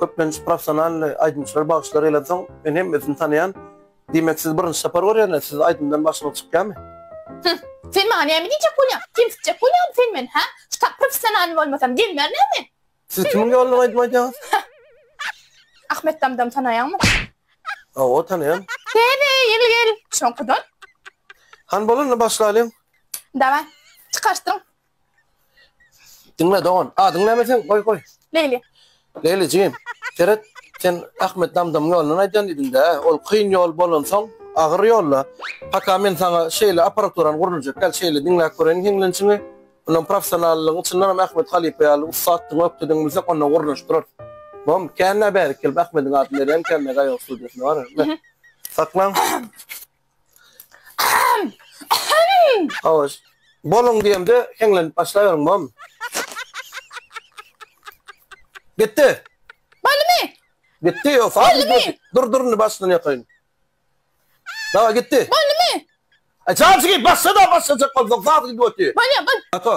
Köplenç professional aýdymçylar bagyşlar eýledensoň men hemmesini tanaýan. Diýmek siz birinji sapar görýäňiz, siz aýdymdan başyňyz çykýamy? Hüh, sen maňa näme diýjek bolýaň? Kemsitjek bolýamy sen meni, hä? Şu tak professionalny bolmasam gelmerin hä men? Siz kimiň ýoluna aýdym aýdýaňyz? Ahmet Damdam tanaýaňmy? Hawa, tanaýan. Täze ýyl gel, şoňkudan. Hany bolanda başlalyň. Daway, çykaryşdyryň. Diňle dogan. Adyň näme seň? Goý, goý. Leýli. Leýlijigim, seret, sen Ahmet Damdamyň ýolundan aýdýan diýdiň-dä? Ol kyn ýol bolansoň, agyr ýol-la. Paka men saňa şeýle apparaturam gurlujak, gel, şeýle diňläp göreýin hiňlençiňi. Mundan professionallygyň çyndanam Ahmet halypa ýaly ussatdygyňy ökdedeňi bilsek, onda gurnaşdyrarys. Bom, kän-ä bärik gelip Ahmediň adyny berýän ekenmikä ýok studiýasyna, bar-a, be. Saklaň. Hawa, boluň diýemde heňlenip başlaýaryň, mom. Gitdi! Boldumy? Gitdi, ýok, sag gitmedi. Dur, dur, indi başdan ýakaýyn. Daway, gitdi. Boldumy? Aý, çaşy geýip başla-da, başlajak bolsaň, sag gidip otyr. Bolýar, bol. Ata.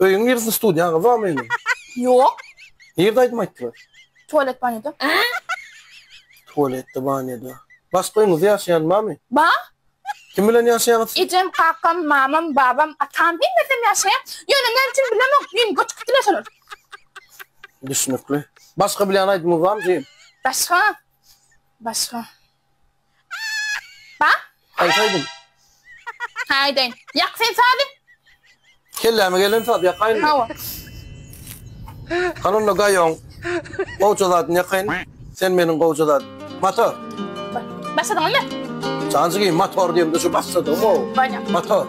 Öýüň niresi studiýaň gyz bamy indi? Ýok. Nirde aýdym aýtdylar? Tualet banýoda. Tualetde banýoda. Başga öýüňizde ýaşaýan bamy? Ba. Kim bilen ýaşaýaňyz? Ejem, kakam, mamam, babam, atam hemmesem ýaşaýar. Ýöne näme üçin bilemok, men göçüp gitdiler şolar. Düşnükli. Başga bilýän aýdymyňyz bamy jigim? Başga? Başga. Bak. Aýtaýdym. Haýdaýyn. Ýak sen sazy. Kelläme gelen saz ýakaýynmy? Hawa. Hany onda gaýoň. Gowja zadyny ýakaýyn. Sen meniň gowja zadym. Motor. Başladyňyzmy? Janjigim motor diýemde şu başladygym-ow. Motor.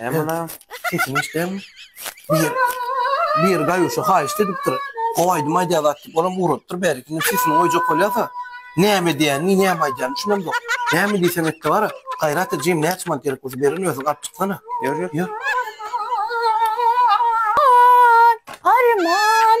Emma sesini işlem. Bir bir gaýuşa haýyşt edipdir. Gowaýdym aýdýa zat diýip, olam ugratdyr bärikini sesini goýjak bolýarsa. Näme diýýän, ni näme aýdýan, şunem ýok. Näme diýsem etdi bara. Gaýrat et jigim, näçe mant gerek bolsa berin, özüň alyp çyksana. Ýör, ýör. Arman,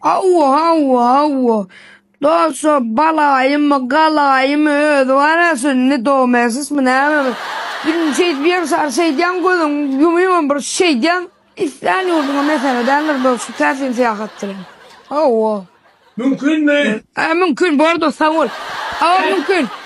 Hawa, hawa, hawa. Dolşa balaýymy, galaýymy özi bar-a şu nedomesismi nämemi? Biriniň şeýdip ýegşar şeýdýäň, gözüňi ýumýaňam bir şeýdýäň. Islän ýurduňa mesele däldir dolşy, täsin syýahatdyr hem. Hawa. Mümkinmi? Hä, mümkin, bordur, sag bol. Hawa, mümkin.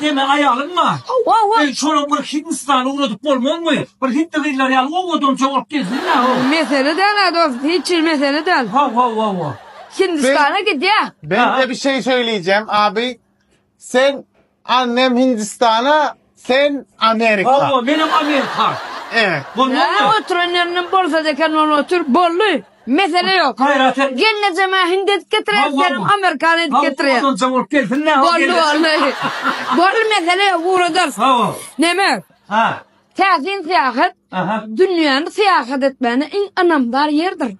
Deme aýalyň bar. Eý şolam bir Hindistana ugradyp bolmazmy? Bir Hindi gyzlary ýaly owadança bolup gezsin ýa ho. Mesele däl a dost hiç hil mesele däl. Ho ho ho ho. Hindistana gidýä. Ben de bir şey söyleyeceğim abi sen annem Hindistan'a sen Amerika. Ho ho menem Amerika. Evet. Bolmazmy? Oturan ýerinden bolsa eken ol otur boldy. Mesele ýok. Gelnejeme hindi edip getireýin, senem amerikan edip getireýin. Boldy, boldy. Boldy, mesele ýok, ugradarys. Neme? Täsin syýahat, dünýäni syýahat etmäne iň ynamdar ýerdir.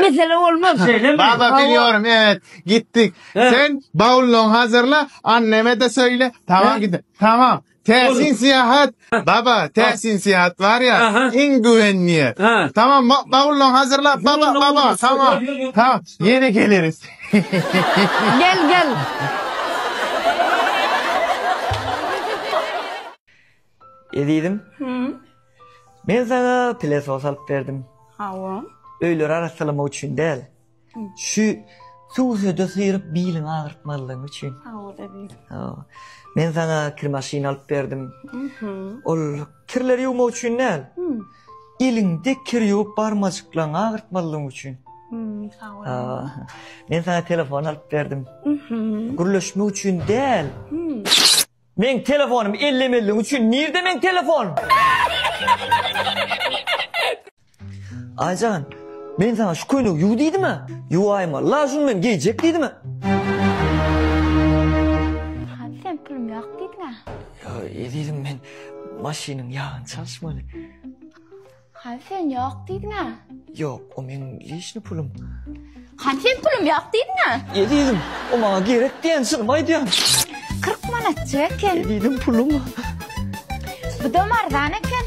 Mesele bolmaz. Şeýlemi? Baba, bilýärin, evet, gitdik. Sen bawlyňy hazyrla, anneme-de söýle, tamam, gideris. Tamam. Täsin syýahat, baba, täsin syýahat barýa, iň güwenýä. Tamam, bawullaň hazyrla, baba, baba, tamam. Ha, ýene geleris. Gel, gel. Ezizim. Hümm. Men saňa pile sos alyp berdim. Hawa. Öýleri arassalamak üçin däl. Şu suwsuda syryp biliňi agyrtmazlygyň üçin. Men sana kir maşyny alyp berdim. Ol kirleri ýuwmak üçin däl. Iliňde kir ýuwup barmajyklaryňy agyrtmazlygyň üçin. Men sana telefon alyp berdim. Gürleşmek üçin däl. Meň telefonym ellemelliň üçin nirde meň telefon. Aýjan men saňa şu köýnegi ýuw diýdimä ýuwaýma la şuny men geýjek diýdimä. Hany sen pulum ýok diýdiňä. Ýa ezizim men maşynyň ýagyny çalyşmaly. Hany sen ýok diýdiň-ä? Ýok, o meň leşni pulum. Hany sen pulum ýok diýdiň-ä? Ýe diýdim, o maňa gerek diýen çynymy aýdýan. Kyrk manatjyk eken. Ýe diýdim, pulum. Budam arzan eken.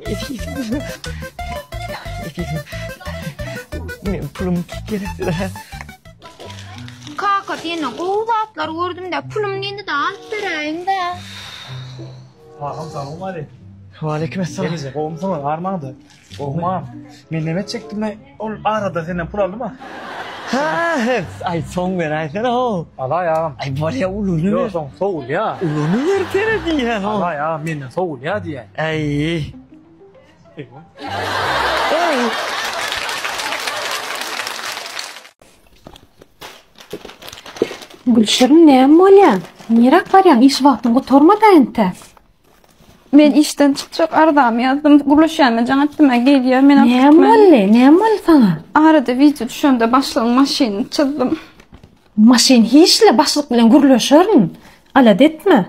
Ýe diýdim. Ýe diýdim. Meň pulum gerekdir-ä. Kaka senden gowy zatlar gördüm-dä, pulum diýdi-de alyp beräýiň-dä. Agam salam aleýkum. Waleýkim essalam. Nirede gowumsyňyz barmaňyz? Gowumam. Men näme etjekdim men? Ol arada senden pul aldyma? Ha, het. Aý, soň beräýsene how. Alaý agam. Aý, bolýa uluny ber. Ýok, soň sowulýa. Uluny bersene diýýän how. Alaý agam, menden sowulýa diýýän. Aý. Aý. Gülşirin näme bolýar? Niräk barýaň? Iş wagtyň gutarmady entä? Men işden çykjak arzamy ýazdym. Gürleşýän men jaň etdim. Gelýär men alyp Näme gitmän. boldy? Näme boldy saňa? Arada wideo düşende başlygyň maşynyny çyzdym. Maşyn hiç-le başlyk bilen gürleşerin. Alada etme.